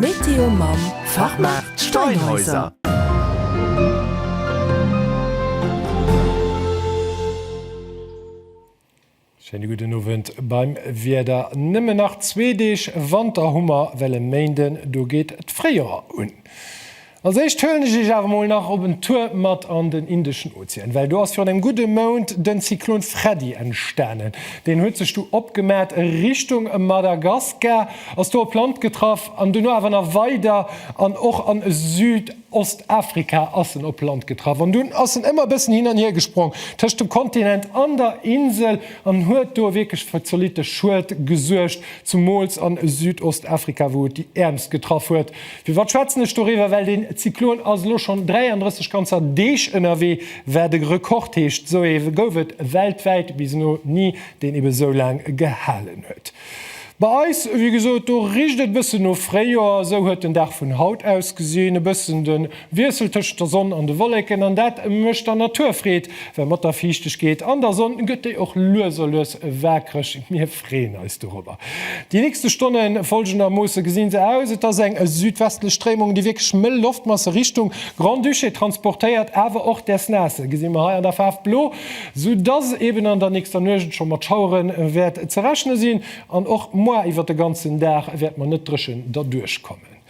Météo mam Fachmaart Steinhäuser. Schéine gudden Owend beim Wieder. Nëmmen nach zwee Deeg Wanter hu mer, well e Méinden do geet d'Fréijoer un. Als éischt huelen ech iech awer mol nach op en Tour mat an den Indeschen Ozean, well do ass virun engem gudde Mount den Zyklon Freddy entstanen. Deen huet sech du opgemat a Richtung Madagaskar, ass do op Land getraff an duerno awer nach weider an och an Südostafrika ass en op Land getraff an dunn ass en ëmmer e bëssen hin an hier gesprong tëscht dem Kontinent an der Insel an huet do wierklech fir zolitte Schued gesuergt, zumools an Südostafrika wou et déi Äermst getraff huet. Firwat schwätzen ech doriwwer? Well deen Zyklon ass elo schonn 33 ganzer Deeg ënnerwee, wat e Rekord heescht. Esou ee gouf et weltwäit bis elo ni, deen ebe sou laang gehalen huet. Bei eis, wéi gesot, do richt et e bëssen no Fréijoer. Esou huet den Dag vun haut ausgesinn, e bëssen de Wiessel tëschent der Sonn an de Wolleken, an dat mécht der Natur Freed, well mat der Fiichtegkeet an der Sonn gëtt déi och lues a lues waakreg. Freeën eis dorobber. Déi nächste Stonne folgendermoosse gesinn se aus, Et ass eng südwestlech Stréimung, déi wierklech mëll Loftmasse Richtung Grand-Duché transportéiert, awer och däers naasse gesi mer hei an der Faarf blo, soudass eben an der nächster Nuecht scho mat Schauere wäert ze rechne sinn. An och moar iwwert de ganzen Dag wäerte mer net dréchen derduerch kommen.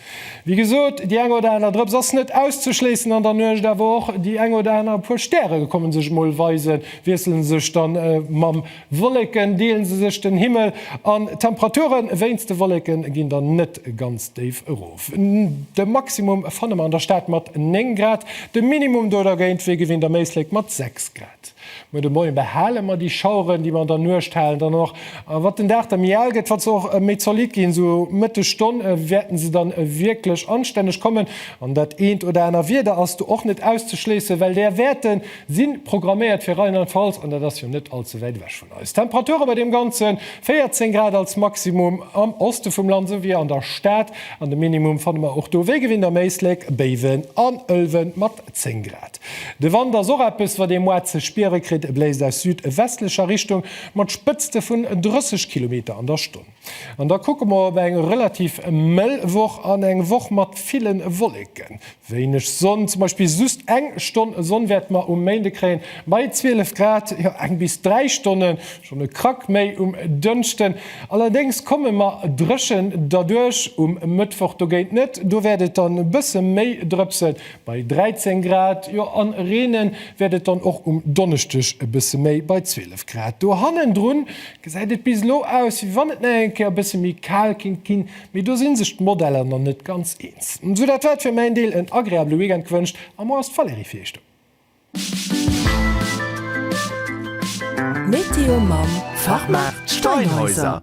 Wéi gesot, déi eng oder aner Drëps ass net auszeschléissen an der Nuecht, awer och déi eng oder aner puer Stäre kommen sech mol weisen, wiesselen sech dann mam Wolleken, deelen se sech den Himmel an d'Temperature wéinst de Wolleken ginn dann net ganz déif erof. De Maximum fanne mer an der Stad mat 9 Grad, de Minimum do dergéint wéi gewinnt am Éislek mat 6 Grad. Muer de Moien behale mer déi Schaueren, déi mer an der Nuecht halen, dann och. A wat den Dag da méi al gëtt, wat se och méi zolidd ginn. Esou Mëtteg Stonne wäerten se dann wierklech anstänneg kommen. An dat eent oder aner Wieder ass do och net auszeschléissen, well där Wäerte si programméiert fir Rheinland-Pfalz, an dat ass jo net all ze wäit ewech vun eis. D'Temperature bei deem Ganze 14 Grad als Maximum am Oste vum Land, esou wéi an der Stad. An de Minimum fanne mer och do wéi gewinnt am Éislek, Béiwen an Ëlwen mat 10 Grad. De Wand ass och eppes, wat ee moarn ze spiere kritt. E bléist aus südwestlecher Richtung mat Spëtzte vun 30 Kilometer an der Stonn. An da kucke mer op eng relativ mëll Woch an eng Woch mat ville Wolleken, wéineg Sonn. Zum Beispill just eng Stonn Sonn wäerte mer um Méinde kréien, bei 12 Grad. Jo, eng bis dräi Stonnen, schonn e Krack méi um Dënschden. Allerdéngs komme mer dréchen derduerch um Mëttwoch dogéint net, do wäert et dann e bësse méi drëpsen. bei 13 Grad, jo an reenen wäert et dann och um Donneschdeg e bësse méi, bei 12 Grad. Do hannendrun gesäit et bis elo aus, wéi wann et nach eng Kéier e bësse méi kal kéint ginn, mee do si sech d'Modeller nach net ganz eens. Sou dat wat fir mäin Deel en agreabele Weekend gewënscht, a moi ass d'Valérie fir iech do. Météo mam Fachmaart Steinhäuser.